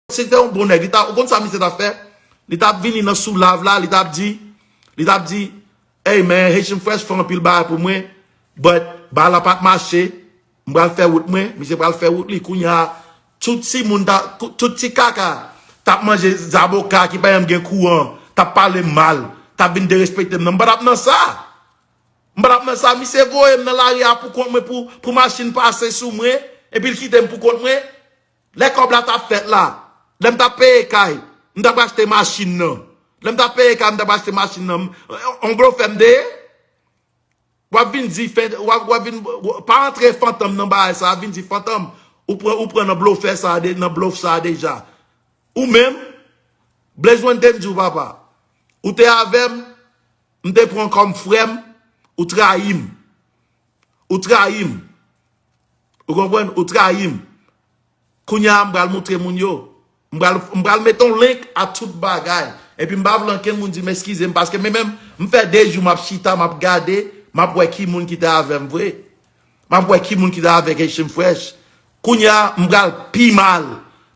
Si l te yon bon nèg, li ta, ou konn sa misye tap fè? Li tap vini nan sou lav la, li tap di, li tap di, Hey man, Haitian Fresh fè anpil bagay pou mwen, but bagay la pat mache, m pral fè wout mwen, misye pral fè wout li, kounye a, tout ti moun ta, tout ti kaka tap manje zaboka ki pa janm gen kouran, tap pale m mal, tap vin derespekte m nan, m pa tap nan sa! M pa tap nan sa, misye voye m nan lari a pou kont mwen pou machin pase sou mwen, epi l kite m pou kont mwen, Lè kòb la tap fèt la, lè m tap peye kay, m tap achte machin nan. Lè m tap peye kay, m tap achte machin nan. On blofè m te ye? Wap vin di fè, wap vin, pa antre fantom nan bagay sa, vin di fantom, ou pran, ou pran nan blofè sa, nan blof sa deja. Ou menm, Blaze one te m di w papa, ou te avè m, m te pran kòm frè m, ou trayi m. Ou trayi m. Ou konprann? Ou trayi m. Kounye a m pral montre moun yo. M pral mete yon link a tout bagay. Epi m pa vle ankenn moun di m eskize m paske men menm m fè 2 jou m ap chita m ap gade m ap wè ki moun ki te avè m vre. M ap wè ki moun ki te avèk Haitian Fresh. Kounye a m pral pi mal.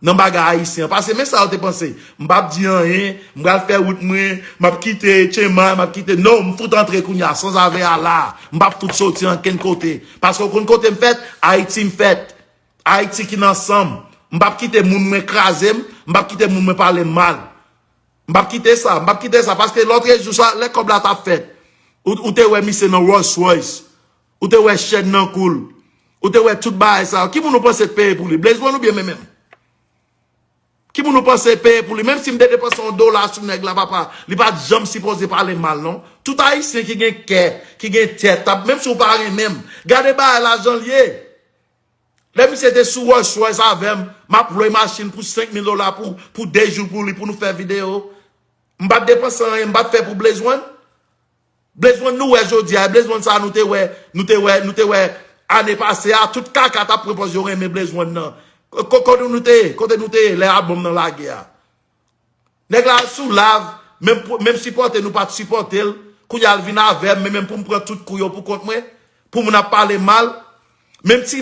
Nan bagay ayisyen an pase men sa yo te panse m pap di anyen m pral fè wout mwen m ap kite tchenmay m ap kite no m fout antre kounya sanzave a la m pap fout soti ankenn kote paske ou konn kote m fèt ayiti m fèt ayiti ki nan san m m pap kite moun mwen kraze m m pap kite moun mwen pale m mal m pap kite sa m pap kite sa paske lotrejou sa lè kòb la t ap fèt ou te wè misye nan rolls royce Ou te wè chèn nan kou l. Ou te wè tout bagay sa yo. Ki moun ou panse te peye pou li? Blaze one oubyen Memen? Ki moun ou panse te peye pou li? Menm si m te depanse yon dola sou nèg la papa, li pa t janm sipoze pale m mal non. Tout Ayisyen ki gen kè, ki gen tèt, tap menm si w pa renmen m. Gade bagay la jan l ye. Lè misye te sou Rolls Royce avè m, m ap lwe machin pou 5 mil dola pou 2 jou pou li pou nou fè videyo. M pa t depanse anyen, m pa t fè pou Blaze one. Blaze one nou wè jodi a e blaze one sa nou te wè nou te wè nou te wè ane pase a tout kaka tap pran pòz yo renmen blaze one nan kote nou te ye kote nou te ye lè album nan lage a nèg la al sou lav menm menm sipòte nou pat sipòte l kounye a l vin avè m men menm pou m pran tout kou yo pou kont mwen pou moun ap pale mal menm ti